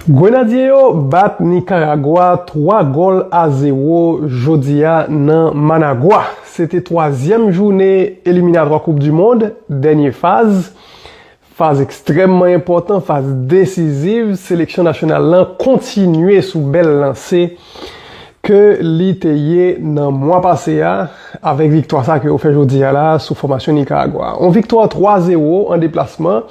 Grenadye yo bat Nikaragwa 3 gòl a 0 jodi a nan Managua. Se te twazyèm joune eliminatwa koup du mond, dènye faz. Faz ekstrèmman enpòtan, faz desiziv, seleksyon nasyonal lan kontinye sou bèl lanse. ke li te ye nan mwa pase a avèk viktwa sa ke yo fè jodi a la sou fòmasyon Nikaragwa. On viktwa 3 zero an deplasman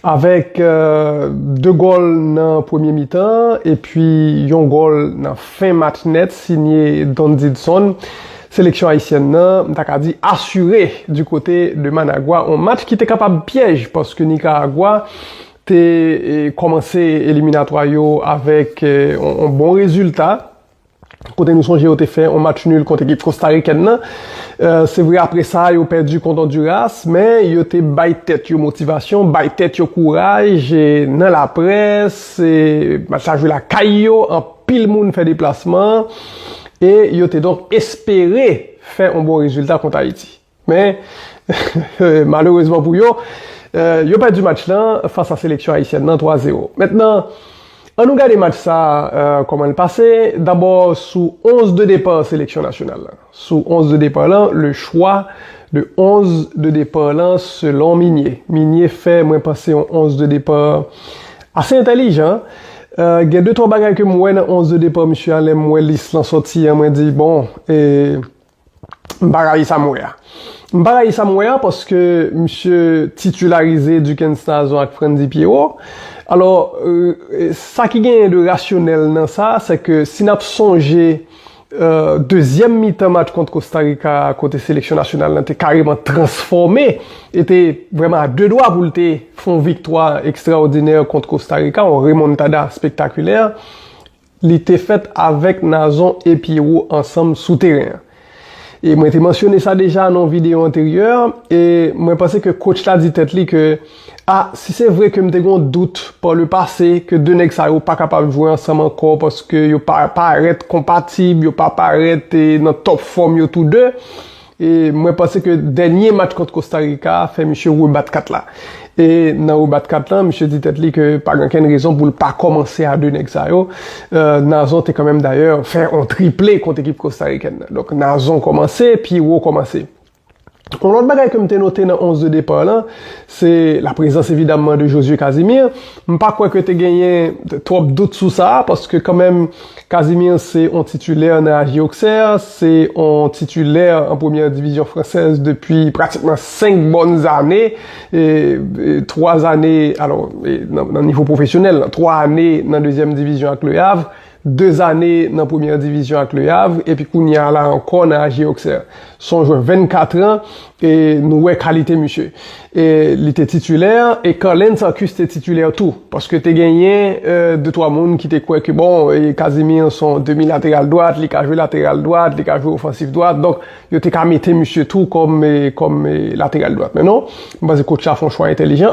avèk 2 gòl nan premye mitan epi yon gòl nan fen match nèt sinye Don Didson. Seleksyon ayisyèn nan m ta ka di asire di kote de Managwa on match ki te kapab pyèj paske Nikaragwa te kòmanse eliminatwa yo avèk yon bon rezilta kote nou sonje yo te fè yon match nul kont ekip kostarikèn nan. Se vre apre sa yo pèdi kont Onduras, men yo te bay tèt yo motivasyon, bay tèt yo kouraj nan laprès. Match la jwe lakay yo, anpil moun fè deplasman e yo te donk espere fè yon bon rezilta kont Ayiti. Men, malerezman pou yo, yo pèdi match lan fas a seleksyon ayisyèn nan 3 zero. Mentnan, an nou gade match sa a kòman l pase, dabò sou 11 de depar seleksyon nasyonal lan. Sou 11 de depar lan, le chwa de 11 de depar lan selon Minye. Minye fè mwen panse yon 11 de depar ase entèlijan. Gen de twa bagay ke m wè nan 11 de depar misye a lè m wè lis lan sòti an mwen di bon e. M pa rayi sa m wè a. M pa rayi sa m wè a paske misye titularize Duckens Nazon ak Frantzy Pierrot. Alò, sa ki genyen de rasyonèl nan sa, se ke si n ap sonje dezyèm mitan match kont Kostarika a kote seleksyon nasyonal lan te kareman transfòme e te vrèman a de dwa pou l te fè yon viktwa ekstraòdinè kont Kostarika, yon remontada spektakilè, Li te fèt avèk Nazon e Pyero ansanm sou teren an. E mwen te mansyone sa deja nan yon videyo anteryè, e mwen panse ke kotch la di tèt li ke, A, si se vre ke m te gen yon dout pa le pase ke 2 nèg sa yo pa kapab jwe ansanm ankò paske yo pa parèt konpatib, yo pa parèt nan tòp fòm yo tou 2, E mwen panse ke dènye match kont Kosta Rika a fè misye rebat kat la. E nan rebat kat la, misye di tèt li ke pa gen okenn rezon pou l pa kòmanse a 2 nèg sa yo. Nazon te kanmenm dayè fè yon triple kont ekip kostarikèn nan. Donk Nazon kòmanse, Pierrot kòmanse. Yon lòt bagay ke m te note nan 11 de depart lan, se la prezans evidamman de Josué Casimir. M pa kwè ke te genyen twòp dout sou sa, paske kanmenm, Casimir se on titulè nan AG Auxerre, se on titulè an premyè divizyon fransèz depi pratikman 5 bòn zane, 3 zane alò nan nivo pwofesyonèl, 3 ane nan dezyèm divizyon ak Le Havre, 2 zane nan premyè divizyon ak Le Havre epi kounya la ankò nan AG Auxerre. Son jwè 24 an E nou wè kalite misye. E li te titulè, e Carlens Arcus te titulè tou. Paske te genyen de twa moun ki te kwè ke bon, Casimir se yon demi lateral dwat, li ka jwe lateral dwat, li ka jwe ofansif dwat. Donk, yo te ka mete misye tou kòm lateral dwat. Men non, m panse kotch la fè yon chwa entelijan.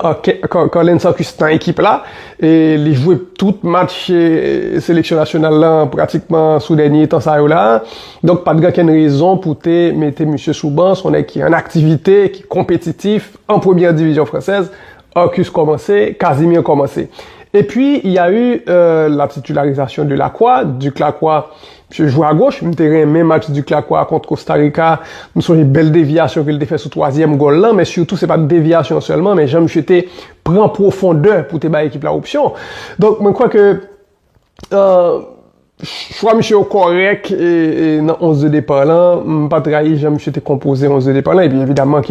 Carlens Arcus nan ekip la, e li jwe tout match seleksyon nasyonal la pratikman sou dènye tan sa yo la. Donk pat gen kenn rezon pou te mete misye sou ban, son nèg ki an aktivite, ki konpetitif, an premyè divizyon fransèz, Arcus kòmanse, Casimir kòmanse. Epi y a eu la titularisation de Lacroix, Duc Lacroix, misye jwe a goch, m te renmen match Duc Lacroix kont Costa Rica, m sonje bèl devyasyon ke l te fè sou twazyèm gòl lan, men sitou se pat devyasyon sèlman men jan misye te pran pwofondè pou te bay ekip la opsyon. Donk mwen kwè ke Chwa misye yo kòrèk nan 11 de depart lan, m pat rayi jan misye te konpoze 11 de depart lan, epi evidaman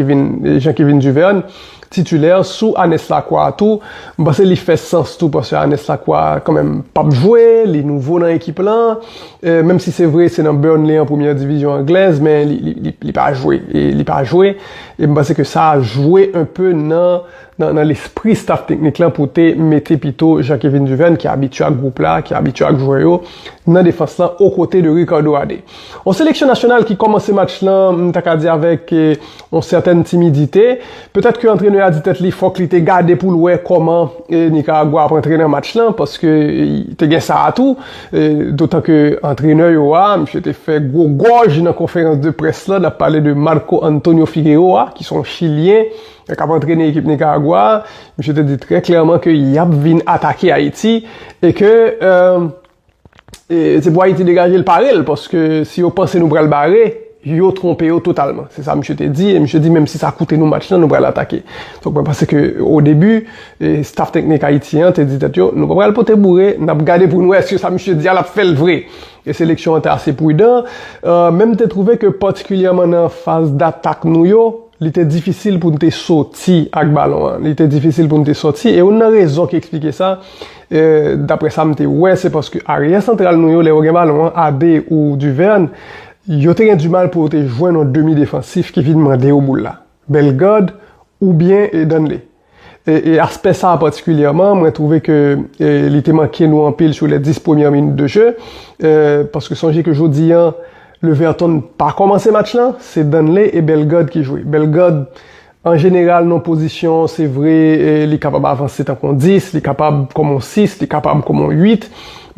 jan Kevin Duverne titulè sou Anes Lakwa a tou, m panse li fè sans tou paske Anes Lakwa kanmenm pap jwe, li nouvo nan ekip lan, menm si se vre se nan Burnley an premyè divizyon anglèz men li pa jwe, li pa jwe, e m panse ke sa jwe enpe nan. nan lespri staf teknik lan pou te mete pito Jean-Kevin Duverne ki abitye ak gwoup la, ki abitye ak jwè yo, nan defans lan okote de Ricardo Adé. Yon seleksyon nasyonal ki kòmanse match lan, m ta ka di avèk yon sètèn timidite. Petèt ke antrenè a di tèt li fòk li te gade pou l wè kòman Nikaragwa ap antre nan match lan, paske te gen sa a tou, dotan ke antrenè yo a, misye te fè gwo gòj nan konferans de près lan, n ap pale de Marco Antonio Figueroa, ki se yon chilyen, Lè kap antrene ekip Nikaragwa a, misye te di trè klèman ke yap vin atake Ayiti e ke se pou Ayiti degaje l pare l paske si yo panse nou pral bare, yo twonpe yo totalman. Se sa misye te di e misye di menm si sa koute nou match lan nou pral atake. Donk mwen panse ke o debi, staff teknik Ayiti an te di tèt yo nou pa pral pote boure, nap gade pou n wè eske sa misye di a lap fè l vre. E seleksyon an te ase prudan. Menm te twouve ke patikilyèman nan faz datak nou yo, Li te difisil pou n te soti ak balon an. Li te difisil pou n te soti. E youn nan rezon ki eksplike sa, dapre sa m te wè, se paske aryè santral nou yo, lè yo gen balon an, Abe ou Duverne, yo te gen dimal pou yo te jwenn yon demi defansif ki vin mande yo boul la. Bellegarde oubyen Danley. E aspè sa a patikilyèman, mwen twouve ke li te manke nou anpil sou les 10 premyè minit de jeu. Paske sonje ke jodi an, Leverton pa kòmanse match lan, se Danley e Bellegarde ki jwe. Bellegarde, an jeneral nan pozisyon, se vre, li kapab avanse tankou yon 10, li kapab kòm yon 6, li kapab kòm yon 8.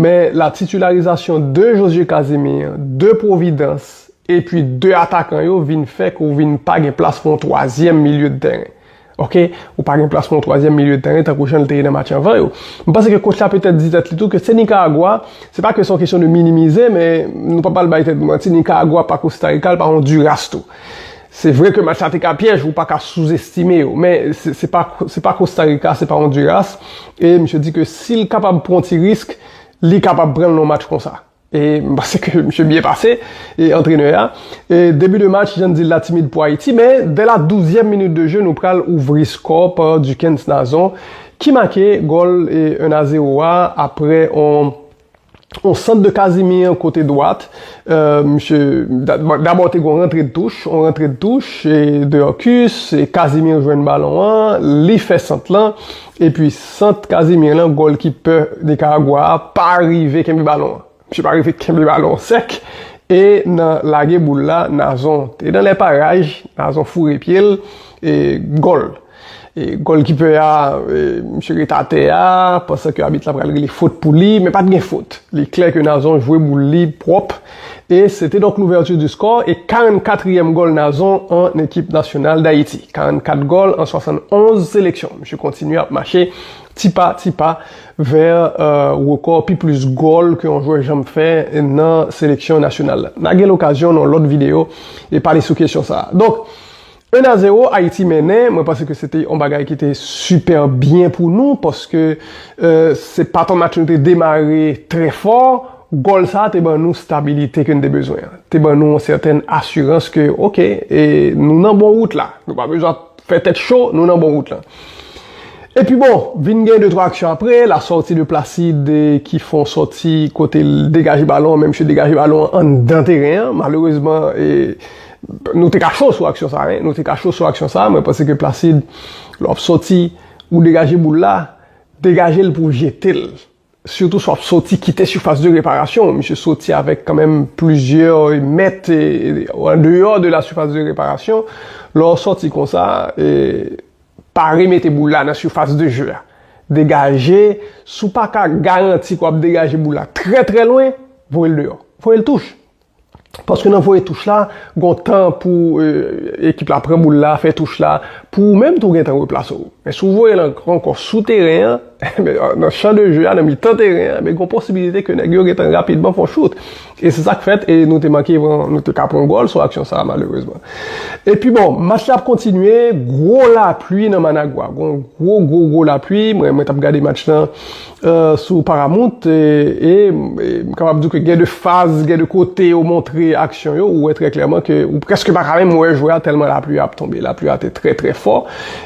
Men la titularizasyon de Josue Casimir, de Providence, epi de atakan yo vin fè ke ou vin pa gen plas pou yon twazyèm milye de tèren. Ok, ou pa gen plas pou yon twazyèm milye tèren tankou jan li te ye nan match anvan yo. M panse ke kotch la petèt di tèt li tou ke se Nikaragwa, se pa ke se yon kesyon de minimize, men nou pa pral bay tèt nou manti, Nikaragwa pa Kosta Rika, li pa Ondiras tou. Se vre ke match la te ka pyèj, ou pa ka souzestime yo, men se pa se pa Kosta Rika, se pa Ondiras, e misye di ke si li kapab pran yon ti risk, li kapab pran l nan yon match konsa. E m panse ke misye byen pase, antrenè a. E debi de match, jan n di l la timid pou Ayiti, men dè la douzyèm minit de je nou pral ouvri skò pa Duckens Nazon ki make gòl 1 a 0 a aprè on sant de Casimir kote dwat. Misye, dabò te gen on rantre de touch, on rantre de touch, Deurcus, Casimir jwenn balon an, li fè sant lan. Epi sant Casimir lan golkipè Nicaragua a pa rive kenbe balon an. Misye pa rive kenbe balon an sèk e nan lage boul la Nazon te nan lè paraj, Nazon foure pye l e gòl. E golkipè a misye ret atè a pansan ke abit la pral rele fot pou li men pat gen fot. Li klè ke Nazon jwe boul li pwòp e E se te donk l'ouverture du score e 44 trièm gòl Nazon an ekip nasyonal Dayiti. 44 gòl an 71 seleksyon. Misye kontinye ap mache ti pa ti pa vè rekò pi plis gòl ke yon jwè janm fè nan seleksyon nasyonal la. N'a gen l'okazyon nan yon lòt videyo e pale sou kesyon sa a. Donk. 1 a 0 Ayiti mennen, mwen panse ke se te yon bagay ki te sipè byen pou nou paske se pa ton match nou te demare trè fò, gòl sa te ban nou stabilite ke nou te bezwen an, te ban nou yon sètèn asirans ke ok nou nan bon wout la, nou pa bezwen ap fè tèt cho, nou nan bon wout lan. Epi bon, vin gen 2 twa aksyon apre, la sòti de Placide ki fè yon sòti kote l degaje balon an men misye degaje balon an anndan teren an, malerezman Nou te ka cho sou aksyon sa wi. Nou te ka cho sou aksyon sa, mwen panse ke Placide lè wap sòti ou degaje boul la, degaje l pou w jete l. Sitou si wap sòti kite sifas de reparasyon, misye sòti avèk kanmenm plizyè mèt an deyò de la sifas de reparasyon, lè w sòti konsa pa remete boul la nan sifas de je a. Degaje, si w paka garanti ke wap degaje boul la trè trè lwen, voye l deyò. Voye l touch! Paske nan voye touch la, gon tan pou ekip la pran boul la, fè touch la, pou ou menm tou gen tan replase ou. Men si w voye l ankò sou teren an, nan chan de je a, nan mitan teren an, gon posibilite ke nèg yo gen tan rapidman fè yon chout. E se sa k fèt, e nou te manke pran, nou te ka pran gòl sou aksyon sa a malerezman. Epi bon, match la ap kontinye, gwo lapli nan Managua. Gon gwo gwo gwo lapli, mwen mwen t ap gade match lan. sou Paramount e m kapab di w ke gen de faz, gen de kote yo montre aksyon yo, ou wè trè klèman ke ou prèske pa ka menm wè jwè a tèlman lapli a ap tonbe. Lapli a te trè trè fò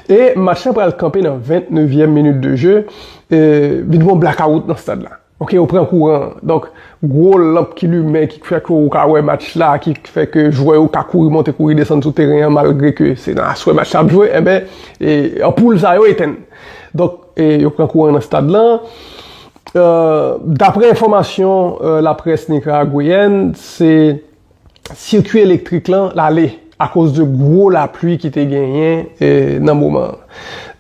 e match la pral kanpe nan 20 nevyèm minit de je, vin gen yon blakawout nan stad la. Ok, yo pran kouran an. Donk, gwo lanp ki limen ki fè ke ou ka wè match la, ki fè ke jwè yo ka kouri monte kouri desann sou teren an malgre ke se nan aswè match la ap jwe, enben, anpoul sa yo etenn. Donk. E yo pran kouran nan stad lan. Daprè enfòmasyon laprès nikaragweyèn, se sikui elektrik lan lale akoz de gwo lapli ki te genyen nan moman an.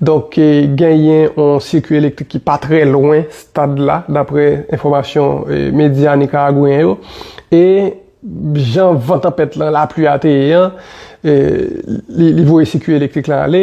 Donk genyen yon sikui elektrik ki pa trè lwen stad la daprè enfòmasyon medya nikaragweyen yo. E jan van tanpèt lan, lapli a te ye an, li voye sikui elektrik lan ale.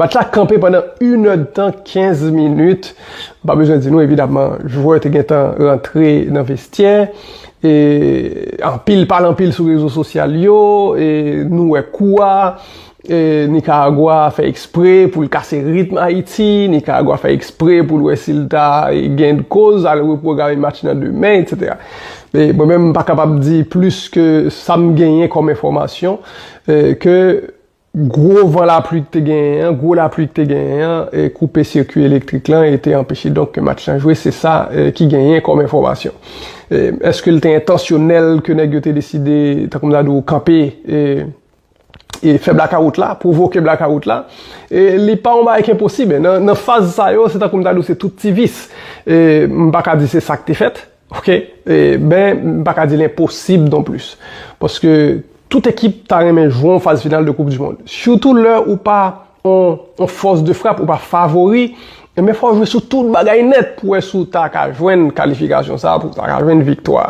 Match la kanpe pandan inèdtan 15 minit, m pa bezwen di nou evidamman jwè te gentan rantre nan vestyè, e anpil pale anpil sou rezo sosyal yo, e nou wè kou a, e Nikaragwa fè ekspre pou l kase ritm Ayiti, Nikaragwa fè ekspre pou l wè si l ta gen koz al repwograme match nan demen etc. E mwen menm m pa kapab di plis ke sa m genyen kòm enfòmasyon ke. Gwo van lapli k te genyen an, gwo lapli k te genyen an koupe sikwi elektrik lan e te anpeche donk ke match lan jwe, se sa ki genyen kòm enfòmasyon. Eske l te entansyonèl ke nèg yo te deside, tankou m ta di w, kanpe e fè blakawout la, pwovoke blakawout la? Li pa yon bagay ki enposib. Nan faz sa yo, se tankou m ta di w se tout ti vis. M pa ka di se sa k te fèt, Ok ben m paka di l enposib non plis paske tout ekip ta renmen jwe yon faz final de koup du mond sitou lè ou pa yon fòs de frap ou pa favori men fò w jwe sou tout bagay nèt pou wè si w ta ka jwenn kalifikasyon sa pou w ta ka jwenn viktwa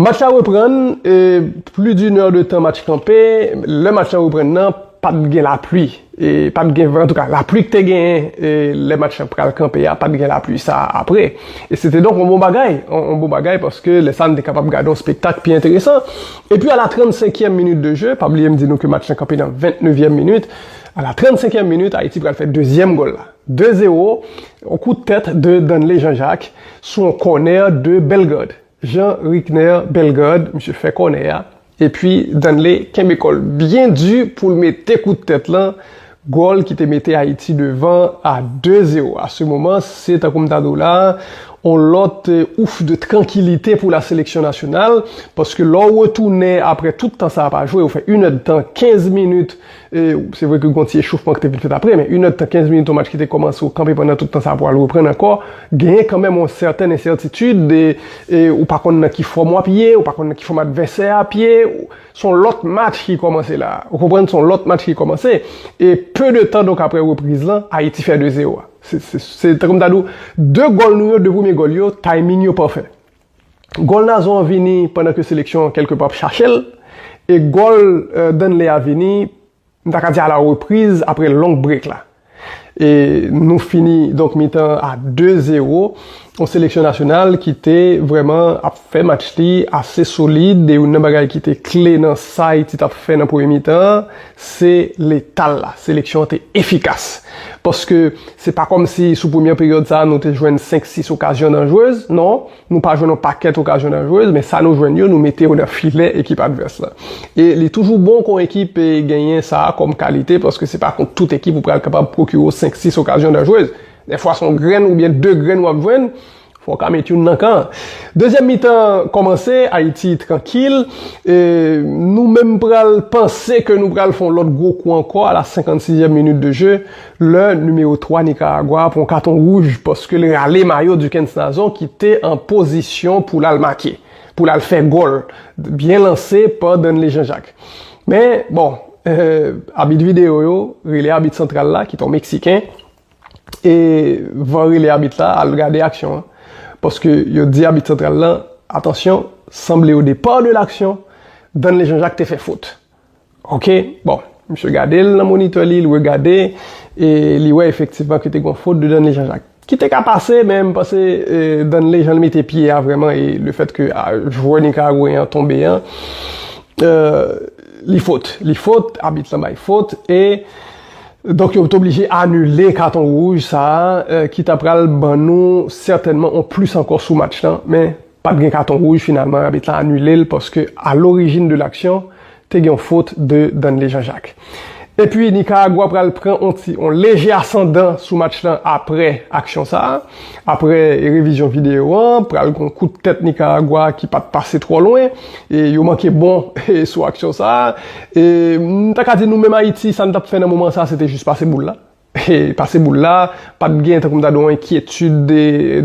match la reprann pli di nè de tan match kanpe lè match la reprann nan. Pap gen lapli, pap gen van, an tou ka lapli k te genyen lè match lan pral kanpe a, pap gen lapli sa a apre. E se te donk yon bon bagay, yon bon bagay paske lè sa a nou te kapab gade yon spektak pi enteresan. Epi a la trannsenkyèm minit de je, pa bliye m di nou ke match lan kanpe nan ventnevyèm minit, a la trannsenkyèm minit Ayiti pral fè dezyèm gòl la. De zewo, yon kout tèt de Danley Jean Jacques sou yon kònè de Bellegarde. Jean Rickner Bellegarde, misye fè kònè a. Epi Danley kenbe kòl byen di poul mete kout tèt lan, gòl ki te mete Ayiti devan a 2 zero a se moman se tankou m ta di w la a on lòt ouf de trankilite pou la seleksyon nasyonal paske lè w retounen aprè tout tan sa a pa jwe ou fè inèdtan 15 minit E, se vre ke gon ti echoufman ki te vin fèt apre, men inèd tan, kenz minit yon match ki te kòmanse ou kanpe pandan tout tan sa pou al reprann ankò, genyen kanmenm yon sèten ensètitid, e, e ou pa konn nan ki fòm w ap ye, ou pa konn nan ki fòm advèsè a ap ye, se yon lòt match ki kòmanse la a. Ou konprann, se yon lòt match ki kòmanse. E peu de tan donk apre repriz lan, Ayiti fè 2-0 a. Se, se, se tankou m ta di w, 2 gòl nou yo, 2 premye gòl yo, timing yo pafè. Gòl Nazon an vini pandan ke seleksyon an kèlke pa ap chache l e gòl Danley a vini m ta ka di a la repriz apre long break la. E nou fini donk mitan an a 2 zero. Yon seleksyon nasyonal ki te vrèman ap fè match li ase solid e youn nan bagay ki te kle nan sa Ayiti t ap fè nan premye mitan an Se leta l la. Seleksyon an te efikas. Paske se pa kòmsi sou premyè peryòd sa a nou te jwenn 5, 6 okazyon danjrez. Non, nou pa jwenn yon pakèt okazyon danjrez, men sa nou jwenn yo, nou mete yo nan filè ekip advès la. E li toujou bon pou yon ekip genyen sa a kòm kalite, paske se pa kont tout ekip ou pral kapab pwokire w 5, 6 okazyon danjrez. Dèfwa se yon grenn oubyen 2 grenn w ap jwenn, Fò w ka met youn nan kan an. Dezyèm mitan an kòmanse, Ayiti trankil, e nou menm pral panse ke nou pral fè yon lòt gwo kou ankò a la 56 èm minit de je, lè nimewo 3 Nikaragwa a pran yon katon wouj paske l rale mayo Duckens Nazon ki te an pozisyon pou l al make, pou l al fè gòl byen lanse pa Danley Jean Jacques. Men, bon, abit videyo yo, rele abit santral la ki te yon Meksiken, E van rele abit la al gade aksyon an. Paske yo di abit santral lan, atansyon, sanble o depar de laksyon, Danley Jean-Jacques te fè fot. Ok, bon. Misye gade l nan monitè li, li regade, e li wè efektivman ke te gon fot de Danley Jean-Jacques. Ki te ka pase, men m panse Danley jan l mete pye a vrèman e le fèt ke jwè nikaragweyen an tonbe an, li fot. Li fot, abit lan bay fot e. Donk yo te oblije anile katon wouj sa ki ta pral ban nou sètènman yon plis ankò sou match lan men pa t gen katon wouj finalman abit la anile l paske a lorijin de laksyon te gen yon fot de Danley Jean Jacques. Epi Nikaragwa pral pran yon ti yon leje asandan sou match lan aprè aksyon sa. Apre revizyon videyo an, pral gen yon kout tèt Nikaragwa ki pa t pase twò lwen, e yo manke bon sou aksyon sa a. E m ta ka di nou menm Ayiti, sa n t ap fè nan moman sa a se te jis pase boul la. E pase boul la, pa t gen tankou m ta di w enkyetid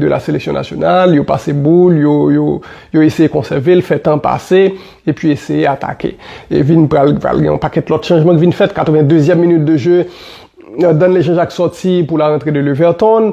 de la seleksyon nasyonal, yo pase boul, yo eseye konsève l, fè tan pase, epi eseye atake. E vin pral gen yon pakèt lòt chanjman ki vin fèt, 82 zièm minit de je, Danley Jean-Jacques sòti pou la rantre de Leverton,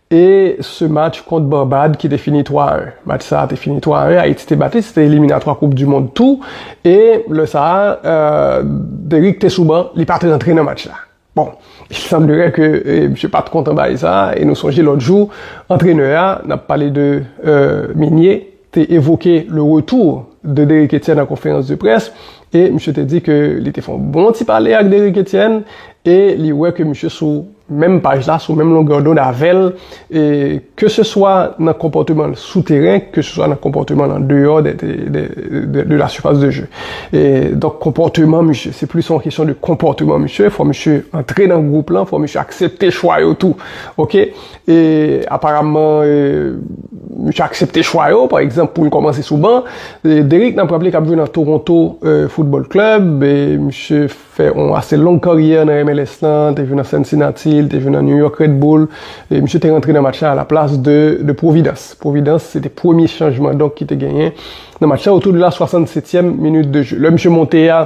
E se match kont Barbad ki te fini 3 a 1. Match sa a te fini 3 a 1, Ayiti te bat li, se te eliminatwa koup di mond tou, e lè sa a Derick te sou ban, li pa t rantre nan match la. Bon, il semblerait ke misye pa t kontan bagay sa a, e nou sonje lòt jou antrenè a, n ap pale de Migné, te evoke le retour de Derrick Etienne an konferans de près e misye te di ke li te fè yon bon ti pale ak Derrick Etienne e li wè ke misye sou menm paj la, sou menm longè dond avè l e ke se swa nan konpòteman l sou teren ke se swa nan konpòteman l an deyò de la surface de jeu e donk konpòteman misye se plis yon kesyon de konpòteman misye fò misye antre nan gwoup lan, fò misye aksepte chwa yo tou ok, E aparamman misye aksepte chwa yo, pa egzanp pou l kòmanse sou ban. Derrick n ap raple k ap jwe nan Toronto Football Club. Misye fè yon ase long karyè nan MLS lan, te jwe nan Cincinnati, li te jwe nan New York Red Bull. Misye te rantre nan match la alaplas de Providence. Providence se te premye chanjman donk ki te genyen nan match la otou de la 67 èm minit de je. Lè misye monte a.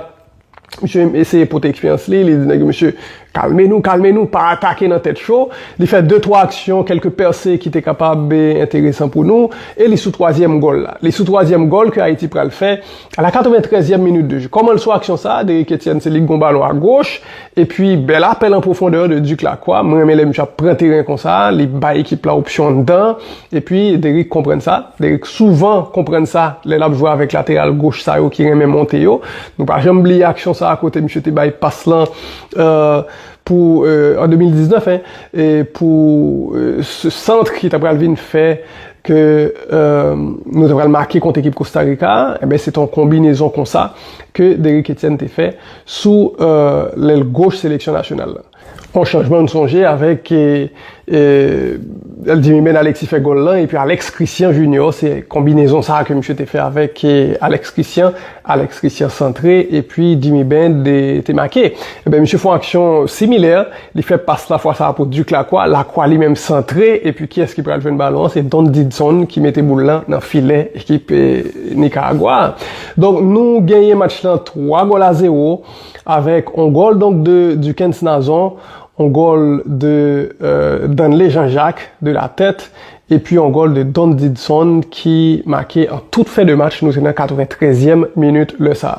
Misye eseye pote eksperyans li, li di nèg yo mesye, kalme nou, kalme nou, pa atake nan tèt cho. Li fè de twa aksyon, kèlke pèse ki te kapab enteresan pou nou, e li sou twazyèm gòl la. Li sou twazyèm gòl ke Ayiti pral fè a la katreventrèzyèm minit de je. Kòman l sou aksyon sa a? Derrick Etienne se li ki gon balon a goch, epi bèl apèl an pwofondè de Duc Lacroix. M renmen lè misye ap pran teren konsa, li bay ekip la opsyon anndan an, epi Derrick konprann sa. Derrick souvan konprann sa lè l ap jwe avèk lateral goch sa yo ki renmen monte yo. Nou pa janm bliye aksyon sa a kote misye te bay pas lan pou, an 2019, pou sant ki ta pral vin fè ke nou ta pral make kont ekip Kosta Rika a. Enben, se te yon konbinezon konsa ke Derrick Etienne te fè sou lèl goch seleksyon nasyonal la. On chanjman m sonje avèk Dimimène Alexis fè gòl lan epi Alex Christian Junior se konbinezon sa ke misye te fè avèk Alex Christian, Alex Christian santre epi Dimimène te make. Ebyen misye fon aksyon similè, li fè pas la fwa sa pou Duc Lacroix, Lacroix li menm santre epi kiyès ki pral jwenn balon an se Don Didson ki mete boul lan nan filè ekip Nicaragua a. Donk nou genyen match lan 3 gòl a 0 Avèk on gòl donk de Dukens Nazon, on gòl de Danley Jean Jacques de la tèt epi on gòl de Don Didson ki make an tout fen de match, nou te nan 93 zièm minit lè sa.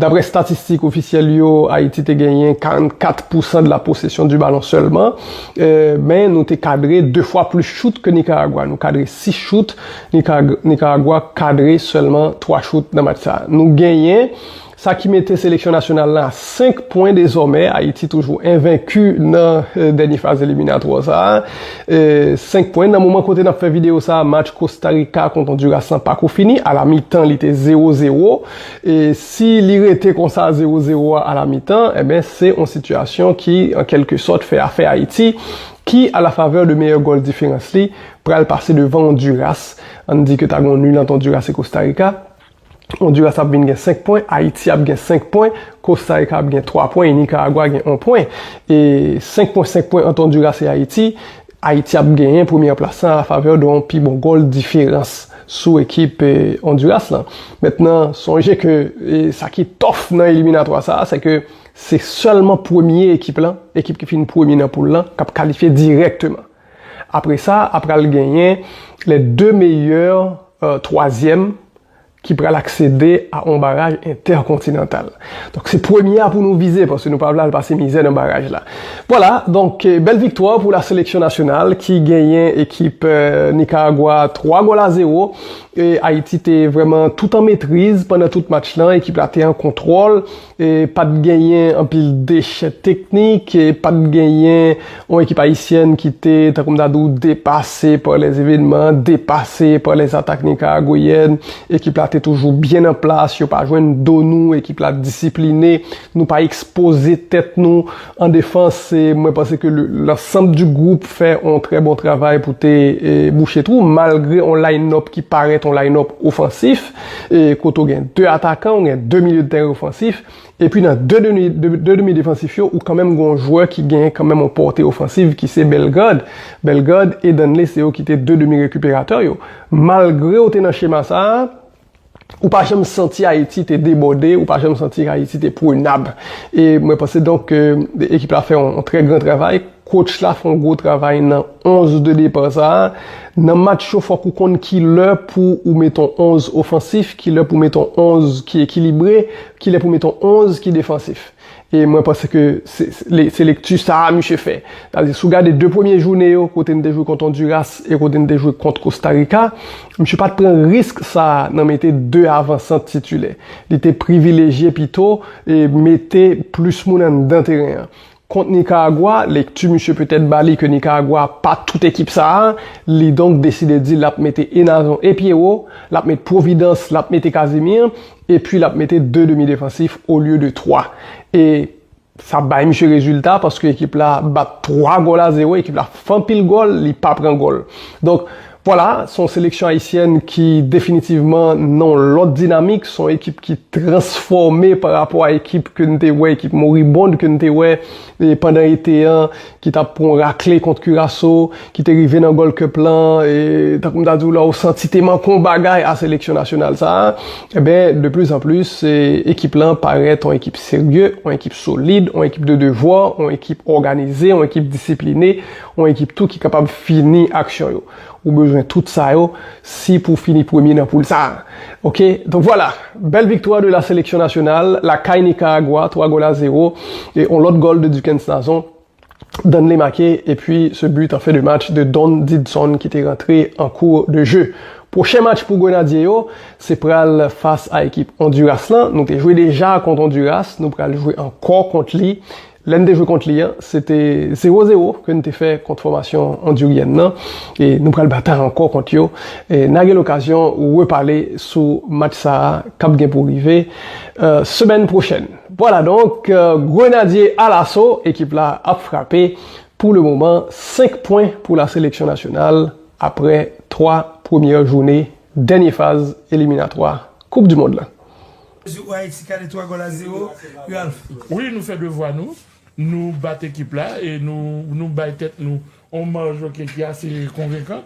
Daprè statistik ofisyèl yo Ayiti te genyen 44 pou san de la possession du ballon sèlman men nou te kadre 2 fwa plis chout ke Nikaragwa, nou kadre 6 chout, Nikaragwa kadre sèlman 3 chout nan match sa. Nou genyen. Sa ki mete seleksyon nasyonal la a 5 pwen dezòmè. Ayiti toujou envenki nan dènye faz eliminatwa sa a. 5 pwen. Nan moman kote n ap fè videyo sa a, match Kosta Rika kont Ondiras lan pako fini. A la mitan li te zewo zewo. E si li rete konsa zewo zewo a a la mitan, enben se yon sitiyasyon ki an kèlke sòt fè afè Ayiti ki a la favè de meyè gòl diferans li pral pase devan Ondiras. An n di ke ta gen yon nil ant Ondiras e Kosta Rika. Onduras ap vin gen 5 pwen, Ayiti ap gen 5 pwen, Kostarika ap gen 3 pwen e Nikaragwa gen 1 pwen. E 5 pwen 5 pwen ant Onduras e Ayiti, Ayiti ap genyen premyè plas lan a favè de yon pi bon gòl diferans sou ekip Onduras lan. Mentnan sonje ke sa ki tòf nan eliminatwa sa a se ke se sèlman premye ekip lan, ekip ki fin premye nan poul lan, k ap kalifye dirèkteman. Apre sa a pral genyen les deux meilleurs troisièmes ki pral aksede a on baraj entèkontinantal. Donk se premye a pou nou vize paske nou pa vle al pase mizè nan baraj la. Vwala, donk bèl viktwa pou la seleksyon nasyonal ki genyen ekip Nikaragwa 3 gòl a 0. Ayiti te vrèman tout an metriz pandan tout match lan, ekip la te an kontwòl. Pa t genyen anpil dechè teknik, pa t genyen yon ekip ayisyèn ki te, tankou m ta di w, depase pa lè evenman, depase pa lè atak nikaragoyèn. Ekip la te toujou byen an plas, yo pa jwenn do nou, ekip la disipline, nou pa ekspoze tèt nou an defans. Mwen panse ke lansanm di gwoup fè yon trè bon travay pou te bouche twou, malgre yon line-up ki parèt yon line-up ofansif. e kote ou gen 2 atakan, ou gen 2 milye de tèren ofansif, epi nan 2 demi defansif yo, ou kanmenm gen yon jwè ki gen kanmenm yon pòte ofansiv ki se Bellegarde. Bellegarde e Danley se yo ki te 2 demi rekiperatè yo. Malgre ou te nan chema sa a, ou pa janm santi Ayiti te debòde, ou pa janm santi Ayiti te prenab. E mwen panse donk ke ekip la fè yon trè gran travay. Coach la fon gwo travay nan 11 de depart sa. Nan match yo fok ou konn ki lè pou ou met on 11 ofansif, ki lè pou met on 11 ki ekilibre, ki lè pou met on 11 ki defansif. E mwen panse ke se lekti sa a misye fè. Sa vle di si ou gade 2 premye joune yo kote n te jwe kont Onduras e kote n te jwe kont Kosta Rika, misye pat pran risk sa a nan mete 2 avansant titilè. Li te privilejye pito mete plis moun anndan teren an. Kont Nikaragwa, lekti misye petèt ba li ke Nikaragwa pa tout ekip sa a, li donk deside di l ap mete Enazon e Pyero, l ap met Providence, l ap mete Casimir, epi l ap mete 2 demi defansif olye de 3. E sa bay misye rezilta paske ekip la bat 3 gòl a 0, ekip la fè anpil gòl, li pa pran gòl. Donk. Vwala, s on seleksyon ayisyèn ki definitivman nan yon lòt dinamik, s on ekip ki transfòme pa rapò a ekip ke n te wè, ekip moribond ke n te wè pandan ete an, ki t ap pran yon rakle kont Kiraso, ki te rive nan Gold Cup lan, tankou m ta di w la, w santi te manke yon bagay a seleksyon nasyonal sa a. Enben, de plis an plis, ekip lan parèt yon ekip serye, yon ekip solid, yon ekip de devwa, yon ekip òganize, yon ekip disipline, Yon ekip tou ki kapab fini aksyon yo. Ou bezwen tout sa yo si pou fini premye nan poul sa. Ok donk vwala bèl viktwa de la seleksyon nasyonal lakay Nikaragwa 3 gòl a 0 e yon lòt gòl de Duckens Nazon Danley make epi se but an fen de match de Don Didson ki te rantre an kou de je. Pwochen match pou Grenadye yo se pral fas a ekip Onduras lan. Nou te jwe deja kont Onduras nou pral jwe ankò kont li Lè n te jwe kont li an, se te zewo zewo ke n te fè kont fòmasyon ondiryèn nan e nou pral batay ankò kont yo. N a gen lokazyon repale sou match sa a k ap gen pou rive semèn pwochèn. Vwala donk, Grenadye alaso, ekip la ap frape. Pou le moman, 5 pwen pou la seleksyon nasyonal apre 3 premyè joune dènye faz eliminatwa Koup Dimond lan. Jou Ayiti kale 3 gòl a 0, Ralph. Wi nou fè devwa nou, nou bat ekip la e nou bay tèt nou on maj ok ki ase konvenkan,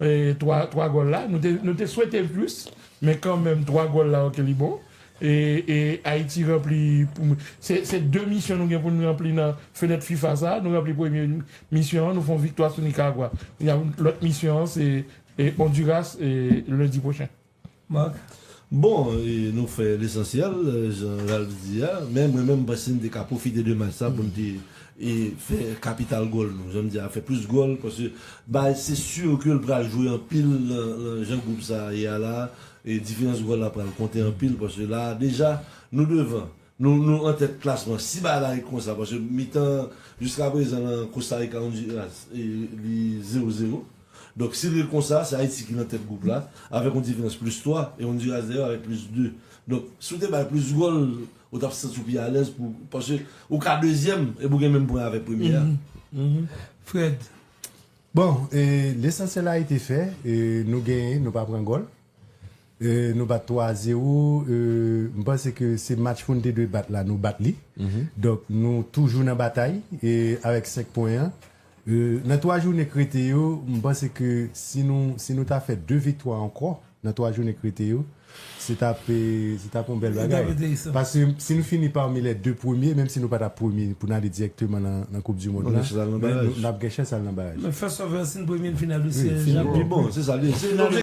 3 gòl la nou te swete l plis men kanmenm 3 gòl la ok li bon e Ayiti ranpli se 2 misyon nou gen pou nou ranpli nan fenèt fifa sa, nou ranpli premye misyon an nou fon viktwa sou Nikaragwa, lòt misyon an se Ondiras lendi pwochen. Marc, Bon, nou fè lesansyèl, jan Ralph di a, men mwen menm m panse n te ka pwofite de match sa pou n te fè kapital gòl nou, jan m di a, fè plis gòl paske Baez se sur ke l pral jwe anpil nan jan gwoup sa a ye a la a, diferans gòl la pral konte anpil paske la a deja nou devan Nou nou an tèt klasman. Si bagay la ret konsa paske mitan jiska prezan lan Kostarika Ondiras li 0 0. Donk si l ret konsa se Ayiti ki nan tèt gwoup la avèk yon diferans plis 3 e Ondiras dèyè avèk plis 2. Donk si w te bay plis gòl ou t ap santi w pi alèz pou paske ou ka dezyèm epi w gen menm pwen avèk premye a. Fred, Bon, lesansyèl Ayiti fè nou genyen nou pa pran gòl. Nou bat 3 a 0, m panse ke se match pou n te dwe bat la nou bat li. Donk nou toujou nan batay avèk 5 pwen an. Nan 3 jounen k rete yo, m panse ke si nou ta fè 2 viktwa ankò nan 3 jounen k rete yo, se t ap yon bèl bagay. Paske si nou fini pami lè 2 premye, menm si nou pa t ap premye pou n ale dirèkteman nan koupdimonn la, men n ap gen chans al nan baraj. Men fè sò vè sin premye n fin a dosye Jean Paul.